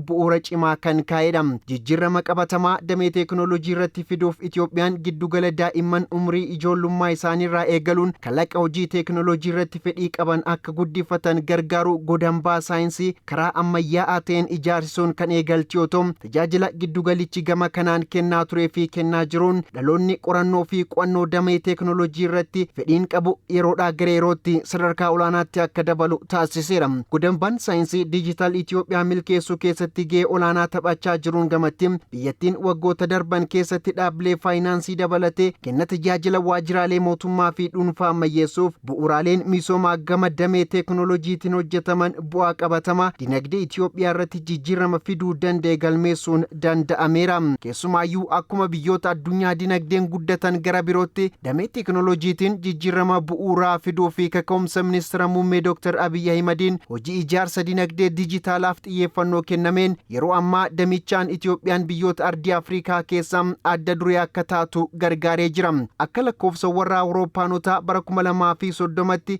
bu'uura cimaa kan kaa'edha. Jijjiirrama qabatamaa damee teeknooloojii irratti fiduuf Itiyoophiyaan giddugala daa'imman umrii ijoollummaa isaaniirraa eegaluun kalaqa hojii teeknooloojii irratti fedhii qaban akka guddifatan gargaaru godambaa saayinsii karaa ammayyaa'aa ta'een ijaarsisuun kan eegalte yoo ta'u, tajaajila giddugalichi gama kanaan kennaa turee fi kennaa jiruun dhaloonni qorannoo fi qo'annoo damee teeknooloojii irratti fedhiin qabu yeroodhaa gara yerootti sadarkaa olaanaatti akka dabalu taasiseera. Godambaan saayinsii diijitaal Itoophiyaa milkeessuu keessatti gahee olaanaa taphachaa jiruun gamatti biyyattiin waggoota darban keessatti dhaabbilee faayinaansii dabalatee kenna tajaajila waajjiraalee mootummaa fi dhuunfaa ammayyeessuuf bu'uuraaleen misoomaa gama damee teeknooloojiitiin hojjetaman bu'aa qabatamaa dinagdee Itiyoophiyaa irratti jijjiirama fiduu danda'e galmeessuun danda'ameera. Keessumaayyuu akkuma biyyoota addunyaa dinagdeen guddatan gara birootti damee teekinooloojiitiin jijjiirama bu'uuraa fiduu fi kaka'umsa ministira muummee Dr. Abiy Ahimadiin hojii ijaarsa dinagdee dijitaalaaf xiyyeeffannoo kennameen yeroo ammaa damichaan Itiyoophiyaan biyyoota ardii Afrikaa keessaa adda duree akka taatu gargaaree jira. Akka lakkoofsawwan warra Awurooppaanotaa bara 2030tti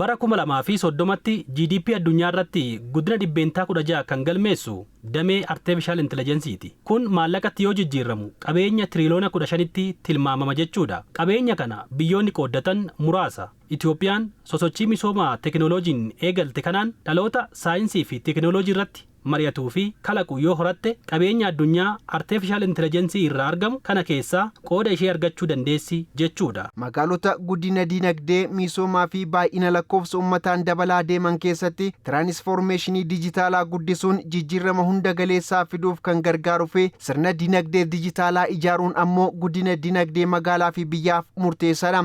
Bara 2030tti GDP addunyaa irratti guddina dhibbeentaa 16 kan galmeessu damee Arteefishaal Intilajensiiti. Kun maallaqatti yoo jijjiirramu qabeenya tiriiliyoona 15tti tilmaamama jechuudha. Qabeenya kana biyyoonni qooddatan muraasa. Itoophiyaan sosochii misooma teekinooloojiin eegalte kanaan dhaloota saayinsii fi teekinooloojii irratti mari'atuu fi kalaqu yoo horatte qabeenya addunyaa artefishaal intilajensii irraa argamu kana keessaa qooda ishee argachuu dandeessi jechuu dha. Magaalota guddina diinagdee, miisoomaa fi baay'ina lakkoofsa ummataan dabalaa deeman keessatti tiraanisfoormeeshinii dijitaalaa guddisuun jijjiirrama hunda galeessaa fiduuf kan gargaaru fi sirna diinagdee dijitaalaa ijaaruun ammoo guddina diinagdee magaalaa fi biyyaaf murteessaa dha.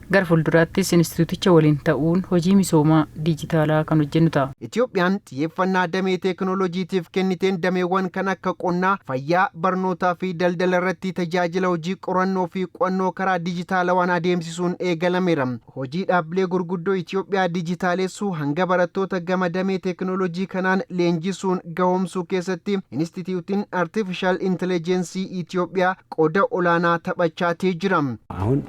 Gara fuulduraattis Inistitiyuuticha waliin ta'uun hojii misooma diijitaalaa kan hojjennu ta'a. Itiyoophiyaan xiyyeeffannaa damee teeknooloojiitiif kenniteen dameewwan kan akka qonnaa, fayyaa, barnootaa fi daldala irratti tajaajila hojii qorannoo fi qu'annoo karaa diijitaalawaan adeemsisuun eegalameera. Hojii dhaabbilee gurguddoo Itiyoophiyaa diijitaalessuu hanga barattoota gama damee teeknooloojii kanaan leenjisuun gahoomsuu keessatti Inistitiyuutiin Artiifishaal Intilejeensii Itiyoophiyaa qooda olaanaa taphachaatii jira. አሁን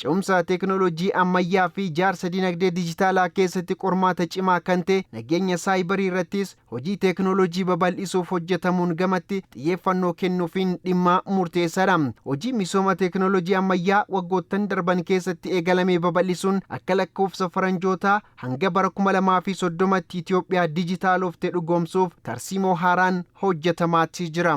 Ce'umsa teeknooloojii ammayyaa fi ijaarsa dinagdee dijitaalaa keessatti qormaata cimaa kan ta'e nageenya saayibarii irrattis hojii teeknooloojii babal'isuuf hojjetamuun gamatti xiyyeeffannoo kennuufiin dhimma murteessaadha. Hojii misooma teeknooloojii ammayyaa waggoottan darban keessatti eegalame babal'isuun akka lakkoofsa faranjootaa hanga bara 2030tti Itiyoophiyaa dijitaalofte dhugoomsuuf tarsiimoo haaraan hojjetamaati jira.